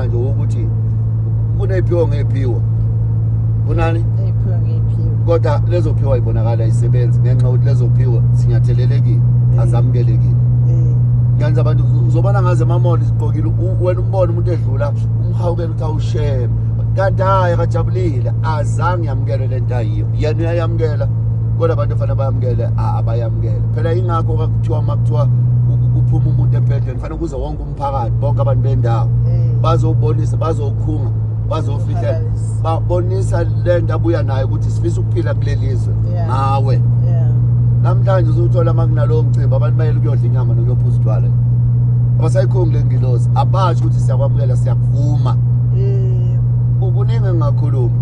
manje ukuthi kunephiwo ngephiwo kunani kodwa lezo phiwo ayibonakala isebenzi ngenxa ukuthi lezo phiwo sinyathelelekile mm. azamukelekile mm. ngenza abantu uzobona ngaze emamoli zigqokile wena umbona umuntu edlula umhawukela ukuthi awusheme kanti hayi akajabulile azange yamukele le nto ayiyo yena uyayamukela kodwa abantu efanele bayamukele abayamukele phela yingakho kakuthiwa uma kuthiwa kuphuma umuntu empedleni fanele kuze wonke umphakathi bonke abantu bendawo mm. bazobonisa bazokhunga bazofihla babonisa le nto abuya nayo ukuthi sifisa ukuphila kuleli zwe ngawe namhlanje uzuthola uma kunalowo mcimbi abantu bayele ukuyodla inyama nokuyophuza utshwala abasayikhongi le ngilozi abasho ukuthi siyakwamukela siyakuvuma kuningi engingakhuluma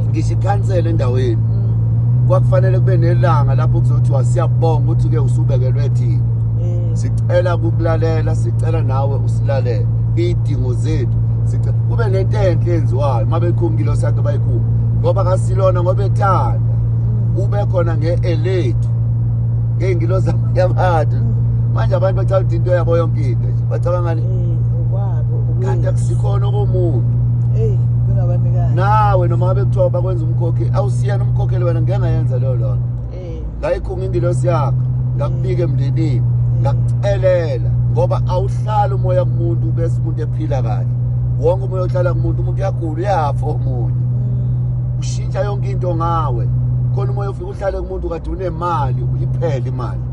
ngisho ikhansela endaweni mm. kwakufanele kube nelanga lapho kuzothiwa siyabonga ukuthi-ke usubekelwe thina sicela kukulalela sicela nawe usilalele idingo zethu sicela kube nento enhle enziwayo uma bekhumkile osakhe bayikhulu ngoba kasilona ngoba ethanda ube khona nge-elethu ngey'ngilo zabo yabantu manje abantu bacabanga ukuthi into yabo yonke into nje bacabangani kanti akusikhona okomuntu nawe noma ngabe kuthiwa bakwenza umkhokheli awusiyena umkhokheli wena ngeke ngayenza leyo lona ngayikhunga ingilosi yakho ngakubika emndenini ngakucelela ngoba awuhlali umoya kumuntu bese umuntu ephila kahle wonke umoya ohlala kumuntu umuntu uyagula uyafa omunye mm. ushintsha yonke into ngawe khona umoya ofika uhlale kumuntu kade unemali uyiphele imali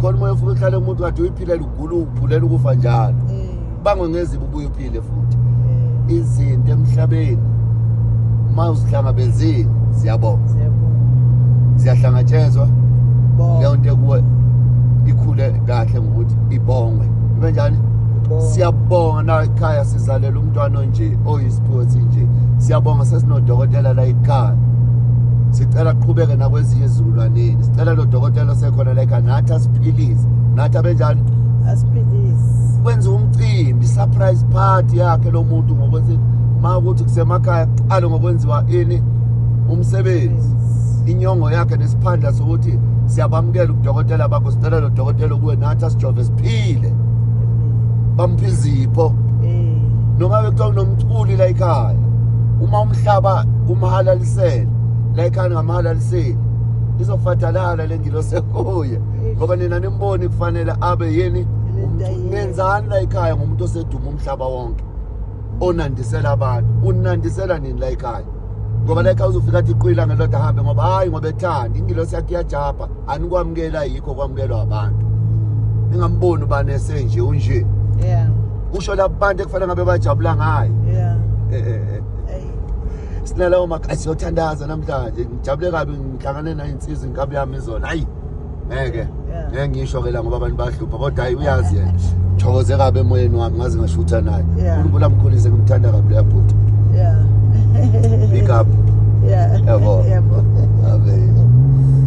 khona umoya ofika uhlale kumuntu kade uyiphilele ugula uphulela ukufa njalo mm. bangwe ngezibi ubuye uphile futhi eh. izinto emhlabeni uma uzihlangabezile ziyabonga ziyahlangatshezwa leyo nto ekuwe ikhule kahle ngokuthi ibongwe ibe njani siyabonga na ekhaya sizalela umntwana onje oyisiphiwo sinje siyabonga sesinodokotela la ekhaya sicela qhubeke nakwezinye izizukulwaneni sicela lo dokotela osekhona la ekhaya nathi asiphilise nathi abenjani kwenza umcimbi surprise party yakhe lo muntu ngokuthi ma ukuthi kusemakhaya kuqale ngokwenziwa ini umsebenzi inyongo yakhe nesiphandla sokuthi siyabamukela udokotela bakho sicela lo dokotela kuwe nathi asijove siphile bampha izipho noma bekuthiwa kunomculi la ekhaya uma umhlaba umhalalisele la ekhaya ngamhalaliseli izofatalala le ngilo sekuye ngoba nina nimboni kufanele abe yini nenzani la ekhaya ngomuntu oseduma umhlaba wonke onandisela abantu unandisela nini la ekhaya ngoba la ekhaya uzofika athi iqwila ngeloda ahambe ngoba hhayi ngoba ethanda ingilosi yakhe iyajabha anikwamukela yikho kwamukelwa abantu ningamboni ubani esenje unje yeah kusho labo bantu ekufanele ngabe bajabula ngayo yeah eh, eh, eh. sinalawo makhathi siyothandaza namhlanje ngijabule kabi ngihlangane nayo insizi inkabi yami izona hayi ngeke Yeah. ngeke ngisho ke la ngoba abantu bahlupha kodwa hayi uyazi yena thokoze kabi emoyeni wami ngaze ngashutha naye Yeah. unkulunkulu amkhulise ngimthanda kabi leya bhuti Yeah. big up Yeah. yabo Yebo. abe